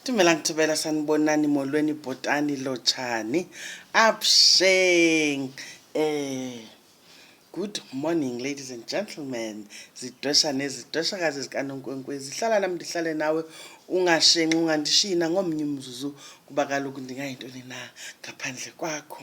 Tumela ngithibela sanibonani molweni bhotani lotshani absheng eh good morning ladies and gentlemen zidwesha nezidweshakazi zikanonkwenkwezi hlala nam ndihlale nawe ungashenxi ungandishina ngomnye umzuzu kuba kaloku ndingayintoni na ngaphandle kwakho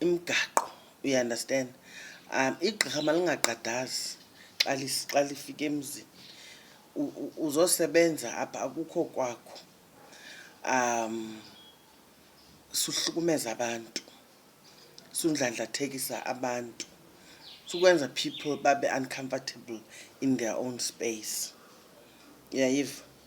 imigaqo, you understand. Igqirha malingagqadazi xa xa lifika emzini, uzosebenza apha akukho kwakho suhlukumeza abantu, sundlandlathekisa abantu, sukwenza people babe uncomfortable in their own space. Uyayiva?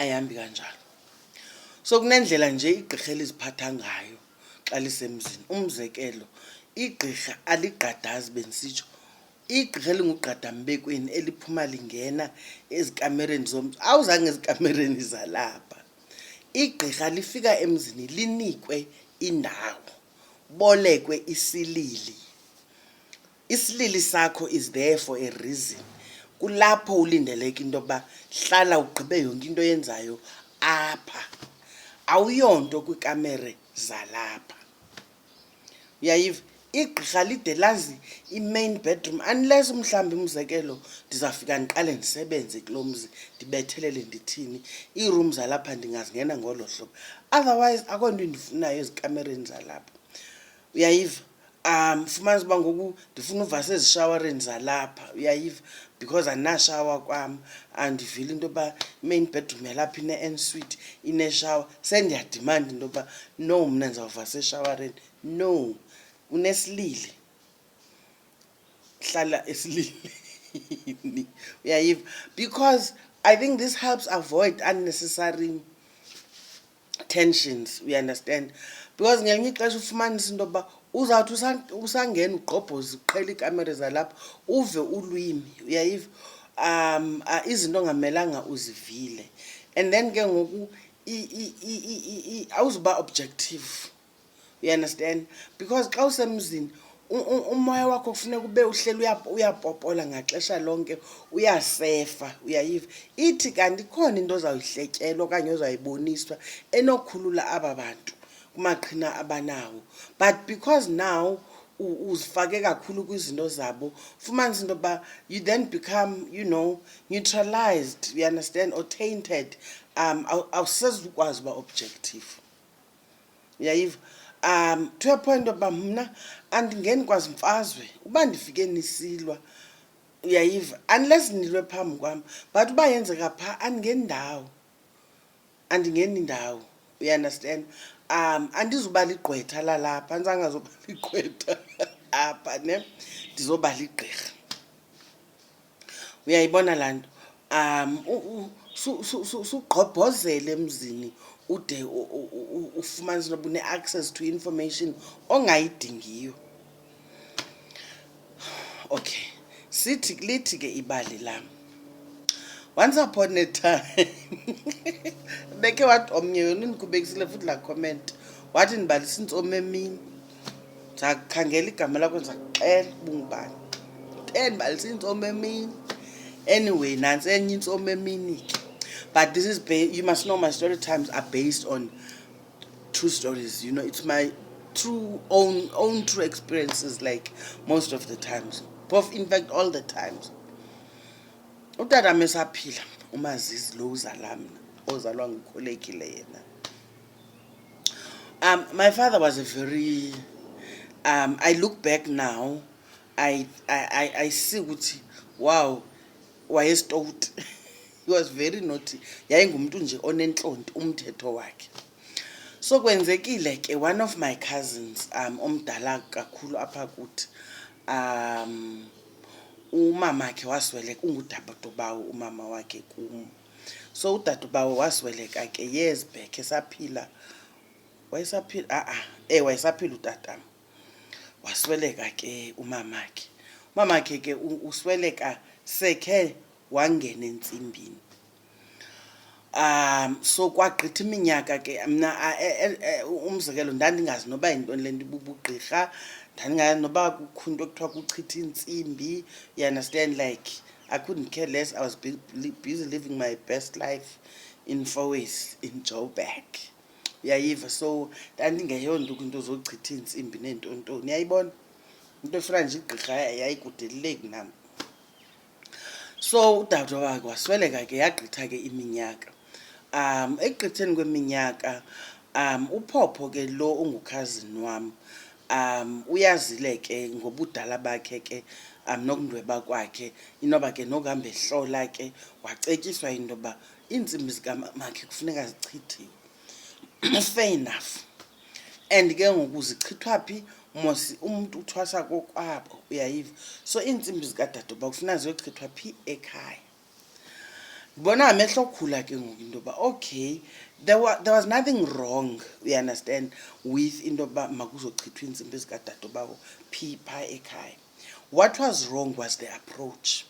ayihambi kanjalo so kunendlela nje igqirha eliziphatha ngayo xa lisemzini umzekelo igqirha aligqadazi bendisitsho igqirha elingugqadambekweni eliphuma lingena ezikamereni zomntu awuzange ezikamereni zalapha igqirha lifika emzini linikwe indawo bolekwe isilili Isilili sakho is there for a reason. Kulapho ulindeleke into yokuba hlala ugqibe yonke into oyenzayo apha. Awuyonto kwikamere zalapha. Uyayiva? Igqirha lide lazi i-main bedroom unless umhlawumbi umzekelo ndizawufika ndiqale ndisebenze kulo mzi ndibethelele ndithini iirum zalapha ndingazingena ngolo hlobo otherwise akho nto endifunayo ezikamereni zalapha uyayiva um fumanisa uba ngoku ndifuna uva sezishawareni zalapha uyayiva because andinashawa kwam andivile into yoba imain bedroom yalapha ine-en suite ineshawa sendiyadimanda into yoba no mna ndizawuva seshawareni no unesilili hlala esililini uyayiva because i think this helps avoid unnecessary tensions, you understand? Because ngelinye ixesha ufumanisa into yokuba uzawuthi usangena ugqobhoza uqhela iikamere zalapha uve ulwimi uyayiva um izinto ongamelanga uzivile and then ke ngoku awuzuba objective you understand because xa usemzini umoya wakho kufuneka ube uhleli uyapopola ngaxesha lonke uyasefa uyayiva ithi kanti ikhona into ozawuyihletyelwa okanye ozayiboniswa enokhulula aba bantu kumaqhina abanawo but because now uzifake kakhulu kwizinto zabo fumanisa into yokuba you then become you know neutralized you understand or tainted um awusezukwazi uba objective uyayiva um to a point yokuba mna andingeni kwazi mfazwe uba ndifike nisilwa uyayiva unless nilwe phambi kwam but uba yenzeka phaa andingeni ndawo andingeni ndawo uyaunderstand um andizuba ligqwetha lalapha andizangazoba ligqwetha apha ne ndizoba ligqirha uyayibona laa nto um sugqobhozele emzini ude ufumanise into yoba une-access to information ongayidingiyo okay sithi lithi ke ibali lam once upon a time beke wathi omnye yona ndikubekisile futhi la comment wathi ndibalisa intsomi emini ndizakhangela igama lakho ndizakuxela ubungubani ten balisa iintsomi emini anyway nantsi enye intsomi emini ke but this is you must know my story times are based on true stories you know it's my true own own true experiences like most of the times both in fact all the times utata mesaphila umazizi lo uzala mna ozalwa ngukholekile yena Um, my father was a very. Um, I look back now, I I I, I see ukuthi wow, wayesitowuti. he was very naughty. Yayengumntu nje onentlonti umthetho wakhe. So kwenzekile ke one of my cousins um omdala kakhulu apha kuthi um umamakhe wasweleka ungudabadobawo umama wakhe kum. so udadubawo wasweleka ke years back esaphila wayesaphila a-a e wayesaphila utatam wasweleka ke umamakhe umamakhe ke usweleka sekhe wangena entsimbini um so kwagqitha iminyaka ke mna e, e, e, umzekelo ndandingazi noba yintoni le nto ibubugqirha ndandingazi noba kukho into ekuthiwa kuchitha iintsimbi you understand like I couldn't care less. I was busy living my best life in Foes, in Joburg. uyayiva so ndandingeyonto kwinto zochitha iintsimbi neentontoni uyayibona into efuna nje igqirha yayikudeleleki nam so udade wakhe wasweleka ke yagqitha ke iminyaka Um, ekugqitheni kweminyaka um, uPhopho ke lo ungukhazini wam um, uyazile ke ngobudala bakhe ke um, nokundweba kwakhe inoba ke nokuhamba ehlola ke wacetyiswa into yoba iintsimbi zikamakhe kufuneka zichithiwe fair enough and ke ngoku zichithwa phi mosi umntu uthwasa kokwabo uyayiva so iintsimbi zikadade uba kufuna ziyochithwa phi ekhaya ndibona amehlo okhula ke ngoku into yoba okay there, wa, there was nothing wrong you understand with into yokuba makuzochithwa iintsimbi ezikadade bawo phi phaa ekhaya what was wrong was the approach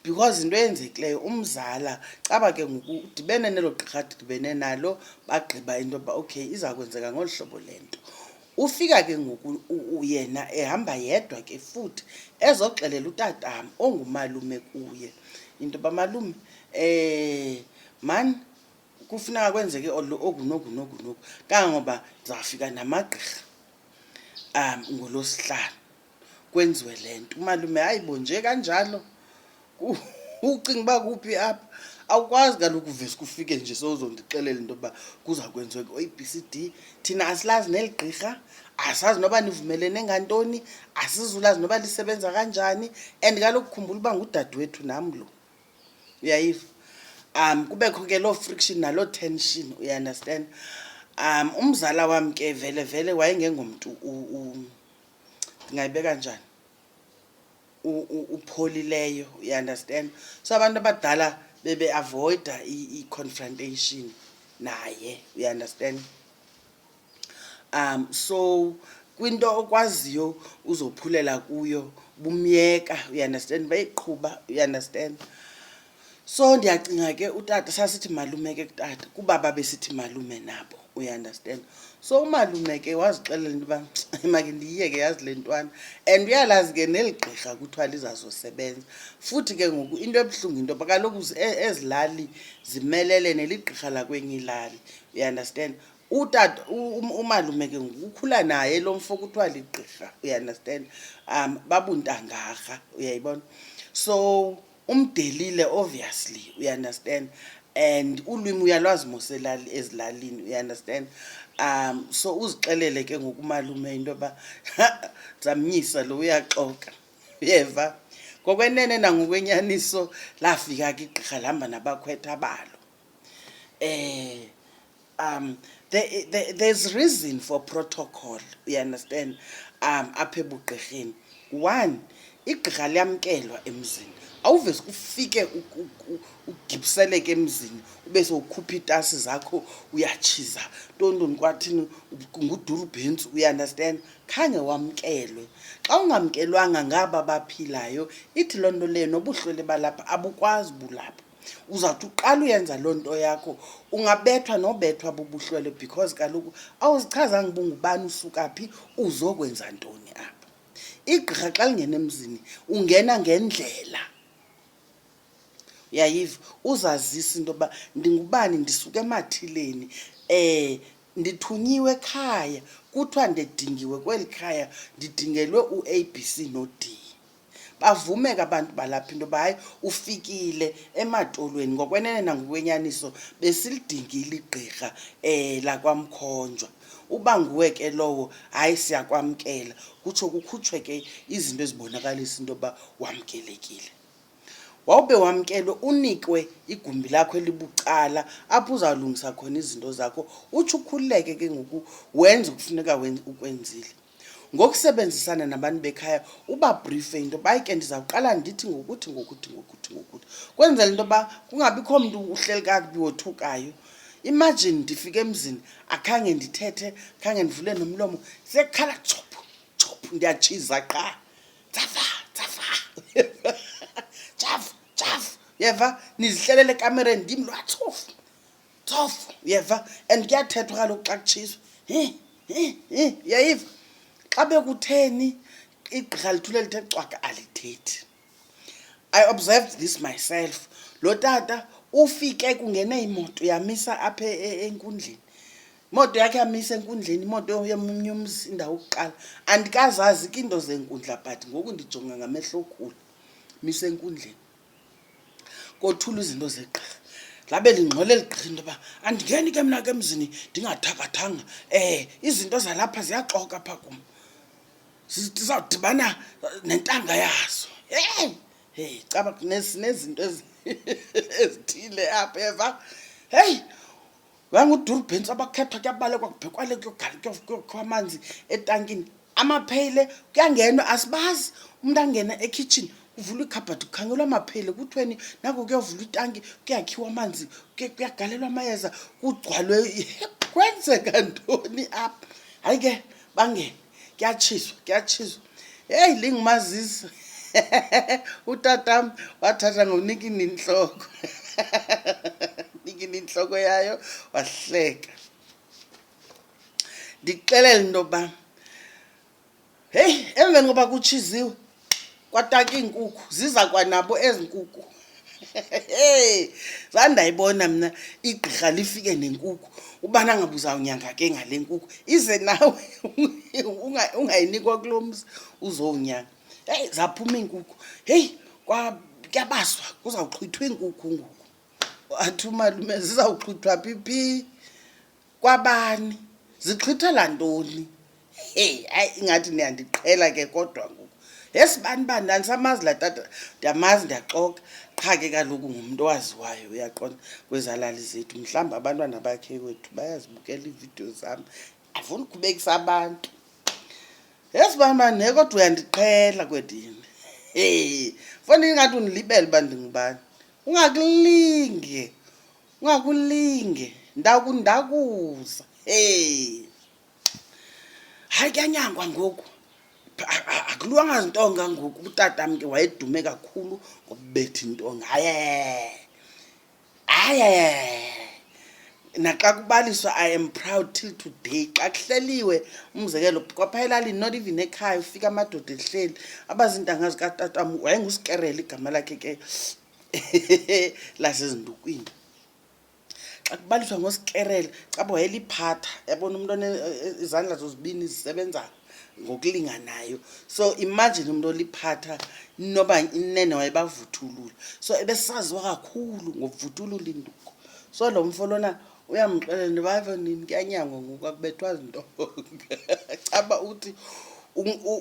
because into eyenzekileyo umzala caba ke ngoku udibene nelo gqirha didibene nalo bagqiba into yokuba okay iza kwenzeka ngolu hlobo le nto Ufika ke ngoku yena ehamba yedwa ke futhi ezoxelela utatam ongumalume kuye into yoba malume um mani kufuneka kwenzeke oku noku noku noku kangangoba ndizawufika namagqirha um ngolosihlanu kwenziwe le nto umalume hayi bo nje kanjalo Ku- ucinga uba kuphi apha awukwazi kaloku uvese kufike nje sowuzondixelela into yokuba kuza kwenziwa ku-a b c d thina asilazi neli gqirha asazi noba nivumelene ngantoni asizulazi noba lisebenza kanjani and kaloku khumbula uba ngudadewethu nam lo uyayiva um kubekho ke loo friction naloo tension uyaunderstand um umzala wam ke vele vele wayengengomntu u- u- ndingayibeka njani upholileyo you understand so abantu abadala bebeavoida i-confrontation naye you understand um so kwinto okwaziyo uzophulela kuyo bumyeka you understand bayiqhuba you understand so ndiyacinga ke utata sasithi malume ke kutata kuba babesithi malume nabo uyaunderstand so umalume ke wazixelela into yoba make ndiyiyeke yazi le ntwana and uyalazi ke neli gqirha kuthiwa lizazosebenza futhi ke ngoku into ebuhlungu into yoba kaloku e-, ezilali zimelele neligqirha lakwenye ilali uyaunderstand utata um, umalume ke ngoku ukhula naye lo mfo kuthiwa ligqirha uyaunderstand um babuntangarha uyayibona so umdelile obviously uyaunderstand and ulwimi uyalwazi moselali ezilalini uyaunderstand um so uzixelele ke ngokumalume into yoba zamnyisa lo uyaxoka uyeva ngokwenene nangokwenyaniso lafika ke igqirha lihamba nabakhwetha balo eh um there, there, there's reason for protocol you understand um apha ebugqirheni one igqirha liyamkelwa emzini awuvese ufike ugibiseleke emzini ube sowukhupha iitasi zakho uyatshiza ntontoni kwathini nguduru bhentsi uyaunderstand khange wamkelwe xa ungamkelwanga ngaba baphilayo ithi loo nto leyo nobuhlwele balapha abukwazi bulapha uzawuthi uqala uyenza loo nto yakho ungabethwa nobethwa bubuhlwele because kaloku awuzichazanga uba ungubani usuka phi uzokwenza ntoni apha igqirha xa lingena emzini ungena ngendlela uyayiva uzazisa into yoba ndingubani ndisuka emathileni um ndithunyiwe ekhaya kuthiwa ndidingiwe kweli khaya ndidingelwe u-a b c no-d bavumeka abantu balapha into yoba hayi ufikile ematolweni ngokwenene nangokwenyaniso besilidingile igqirha um lakwamkhonjwa uba nguwe ke lowo hayi siyakwamkela kutsho kukhutshwe ke izinto ezibonakalisa into yoba wamkelekile wawube wamkelwe unikwe igumbi lakho elibucala apho uzawulungisa khona izinto zakho utsho ukhululeke ke ngoku wenze ukufuneka ukwenzile ngokusebenzisana nabantu bekhaya ubabrife into yoba ke ndizawuqala ndithi ngokuthi ngokuthi ngokuthi ngokuthi kwenzela into yoba kungabikho mntu uhleli kakubi wothukayo imagine ndifike emzini akhange ndithethe khange ndivule nomlomo sekhala chophu chophu ndiyatshiza qha tsafa tsafa tsafu tsafu yeva nizihlelele ekamereni ndim lwatsofu tsofu uyeva and kuyathethwa kaloku xa kutshiswa hi hi hi uyayiva xa bekutheni igqirha lithule lithe cwaka alithethi i observed this myself lo tata ufike kungene imoto yamisa apha e, e, enkundleni imoto yakhe yamisa enkundleni imoto yomnye umzi indawo ukuqala andikazazi ke into zenkundla but ngoku ndijonga ngamehlo okhulu misa enkundleni kothula izinto zegqirha labe lingxole ligqirha into yoba andingeni ke mna ke emzini ndingathakathanga um izinto zalapha ziyaxoka pha kum zizawudibana nentanga yazo heyi heyi caba nezinto ezithile apha eva heyi wangudurubhentsi abakhethwa kuyabalekwa kubhekwale kuyogala kuyokhiwa amanzi etankini amapheyile kuyangenwa asibazi umntu angena ekhitshini kuvulwa ikhabhathi kukhangelwa amapheyile kuthiweni nako kuyovulwa itanki kuyakhiwa amanzi kuyagalelwa amayeza kugcwalwe kwenzeka ntoni apha hayi ke bangene kuyatshiswa kuyatshiswa heyi lingumazisa utatam wathatha ngonikini intloko nikini intloko yayo wahleka ndixelele into yokuba heyi emveni koba kutshiziwe kwataka iinkukhu ziza kwanabo ezi nkukhu zandayibona mna igqirha lifike nenkukhu ubana ngabe uzawunyanga ke ngale nkukhu ize nawe ungayinikwa kulo mzi uzowunyanga heyi zaphuma iinkukhu heyi kuyabaswa kuzawuxhwithwa iinkukhu ngoku athi umalume zizawuxhwithwa phi phi Kwabani? Zixhithela ntoni? Hey, hayi ingathi niyandiqhela ke kodwa ngoku. Yes bani bani ndandisamazi la tata ndiyamazi ndiyaxoka qha ke kaloku ngumntu owaziwayo uyaqonda kwezalali zethu mhlawumbi abantwana bakhe wethu bayazibukela iividiyo zam afuni ukhubekisa abantu yes bani bani ne kodwa uyandiqhela kwedini e fona ingathi undilibele uba ndingubani ungakulinge ngakulinge ndakundakuza hey hayi kuyanyangwa ngoku akulwanga zintonga ngoku utata mke wayedume kakhulu ngobubetha intonga haye haye naxa kubaliswa i am proud till today xa kuhleliwe umzekelo kwapha elalini not even ekhaya ufika amadoda ehleli abazintanga zikatatam wayengusikerela igama lakhe ke lasezindukwini xa kubaliswa ngosikerele caba wayeliphatha yabona umntu e, e, izandla zozibini zisebenza ngokulinganayo so imagine umntu oliphatha inoba inene wayebavuthulula so ebesaziwa kakhulu ngokuvuthulula induku so lo mfo lona uyamxelela into yoba ave nini kuyanyangwa ngoku akubethwa zinto caba uthi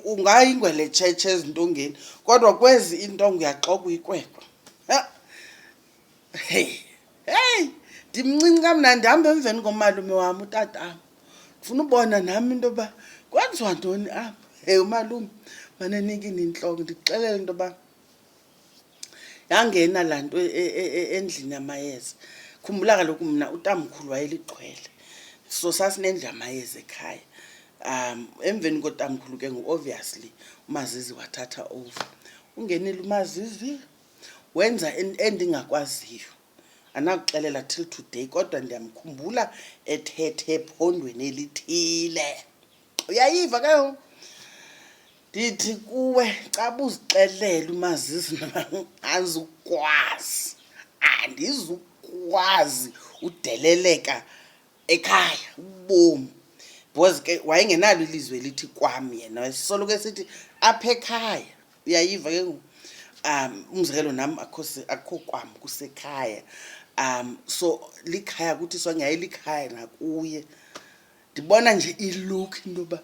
ungayingwele tshetshe ezintongeni kodwa kwezi iintongo uyaxoka uyikwekwa heyi heyi ndimncinci kamnandi hambe emveni komalume wam utatam ndifuna ubona nam into yoba kwenziwa ntoni apha heyi umalume manenike nintloko ndikuxelele into yoba yangena laa nto e, e, e, endlini yamayeza khumbula kaloku mna utamkhulu wayelixhwele so sasinendlu yamayeza ekhaya um emveni kotamkhulu ke ngoku obviously umazizi wathatha over ungenile umazizi wenza endingakwaziyo anakuxelela till today kodwa ndiyamkhumbula ethethe ephondweni elithile uyayiva ke ngoku ndithi kuwe xa buzixelele umazisi andizukwazi andizukwazi udeleleka ekhaya ubomi because ke wayengenalo ilizwe elithi kwam yena wayesoloko esithi apha ekhaya uyayiva ke ngoku um umzekelo nam akho kwam kusekhaya um so likhaya kuthi sonyaye likhaya nakuye ndibona nje ilook into yoba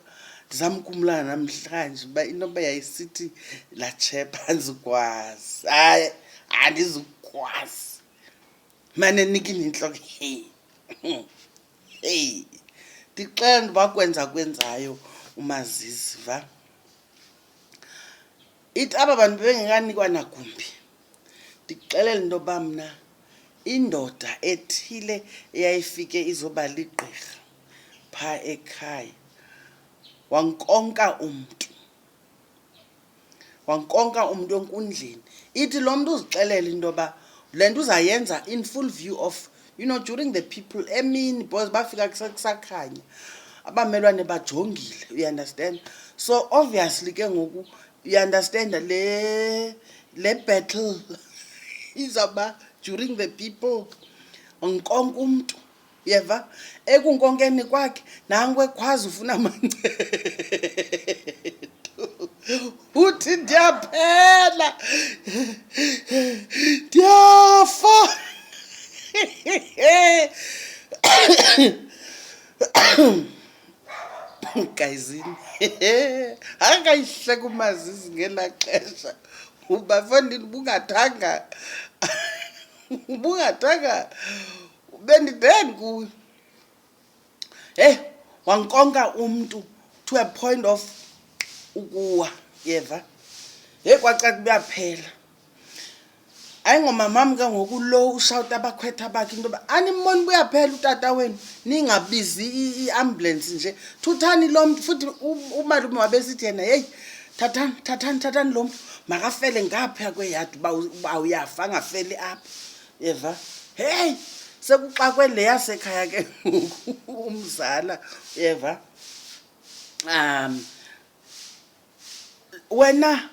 ndizama ukumlana namhlanje uba into yoba yayisithi latshepa andizukwazi hayi andizukwazi mane nikini intloko hey hey ndixela ntoba kwenza kwenzayo umaziziva ithi aba bantu bebengenganikwa nagumbi ndikuxelela into yoba mna indoda ethile eyayifike izoba ligqirha phaa ekhaya wankonka umntu wankonka umntu enkundleni ithi lo mntu uzixelela into yoba le nto uzayenza in full view of you know during the people emini because bafika kusakhanya abamelwane bajongile uyanderstand so obviously ke ngoku you understand le le battle izawuba during the people nkonke umntu yeva ekunkonkeni kwakhe nanku ekwazi ufuna mancedo uthi ndiyaphela ndiyafa gayizini angayihleka umazizi ngelaa xesha uba fondini ubungathanga ubungathanga bendiden kuyo heyi wankonka umntu to a point of ukuwa yeva heyi kwacaca uyaphela hayi ngomamam ke ngoku lo ushawuta abakhwetha bakhe into yoba animboni buyaphela utata wenu ningabizi iambulance nje thuthani lo mntu futhi umalume wabesithi yena yeyi thathani thathani thathani lo mntu makafele ngapha kweyadi uba uyafa angafeli apha yeva heyi sekuxakwe le yasekhaya ke ngoku umzala yeva um wena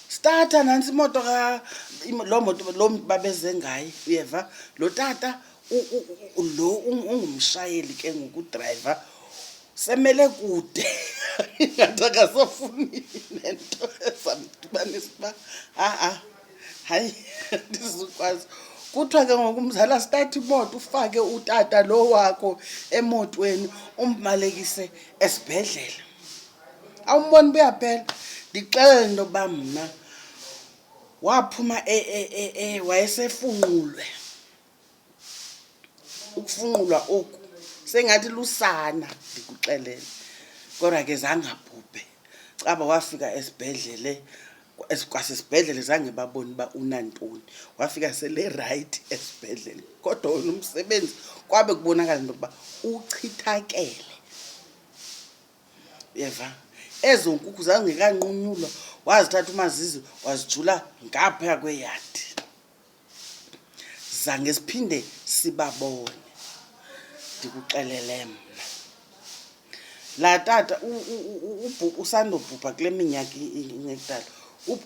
starta nantsi imoto ka im- loo moto loo mntu babeze ngaye uyeva lo tata u- u- u- lo ung- ungumshayeli ke ngoku udrayiva semele kude ingathi akasafuni nento ezamdibanisa uba ha-a hayi ndizukwazi kuthiwa ke ngoku mzala start imoto ufake utata lo wakho emotweni umbalekise esibhedlele awumboni uba uyaphela ndixelele into yokuba mna waphuma e, e, e, wayesefunqulwe ukufunqulwa oku sengathi lusana ndikuxelele kodwa ke zangabhubhe caba wafika esibhedlele kwasesibhedlele zange baboni uba unantoni wafika selerayithi esibhedlele kodwa wona umsebenzi kwabe kubonakala into yokuba uchithakele uyeva ezo nkukhu zangekanqunyulwa wazithatha umazizi wazijula ngaphaya kweyadi zange siphinde sibabone ndikuxelele mna laa tata usandobhubha kule minyaka ingekudala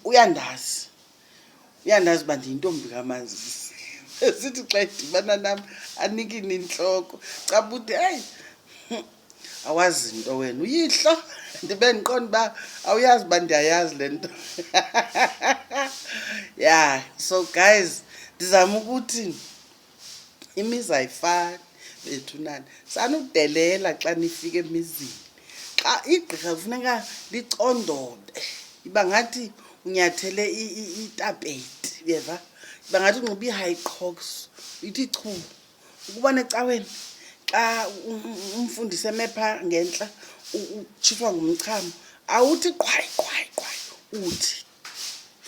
uyandazi uyandazi uba ndiyintombi kamanzi esithi xa idibana nam anikini intloko cabude hayi awazi nto wena uyihlo ndibe ndiqonda uba awuyazi uba ndiyayazi le nto ya so guys ndizama ukuthi imizi ayifani bethunani sanudelela xa nifike emizini xa igqirha kufuneka licondobe iba ngathi unyathele itapeti yeva iba ngathi unxiba ii-high crocs ithi chu ukuba necaweni xa umfundisi emepha ngentla utshifwa ngumchamo awuthi qhwayi qhwayi qhwayi uthi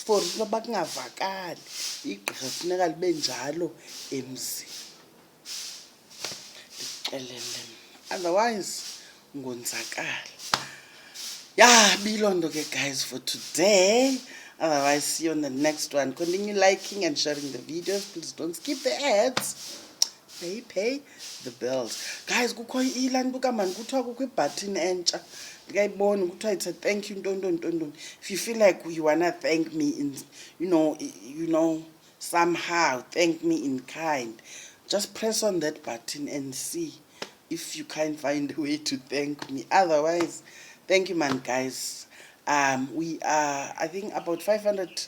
for noba kungavakali igqirha funeka libe njalo emzini ndikuxelele otherwise ngonzakala ya biloo nto ke guys for today otherwise see you on the next one continue liking and sharing the videos please don't skip the ads pay pay the bills guys kukho ilaa nto kamani kuthiwa kukho ibhathini entsha ndikayiboni kuthiwa it's a thank you ntontoni ntontoni if you feel like you wanna thank me in you know you know somehow thank me in kind just press on that button and see if you can find a way to thank me otherwise thank you man guys um we are i think about 500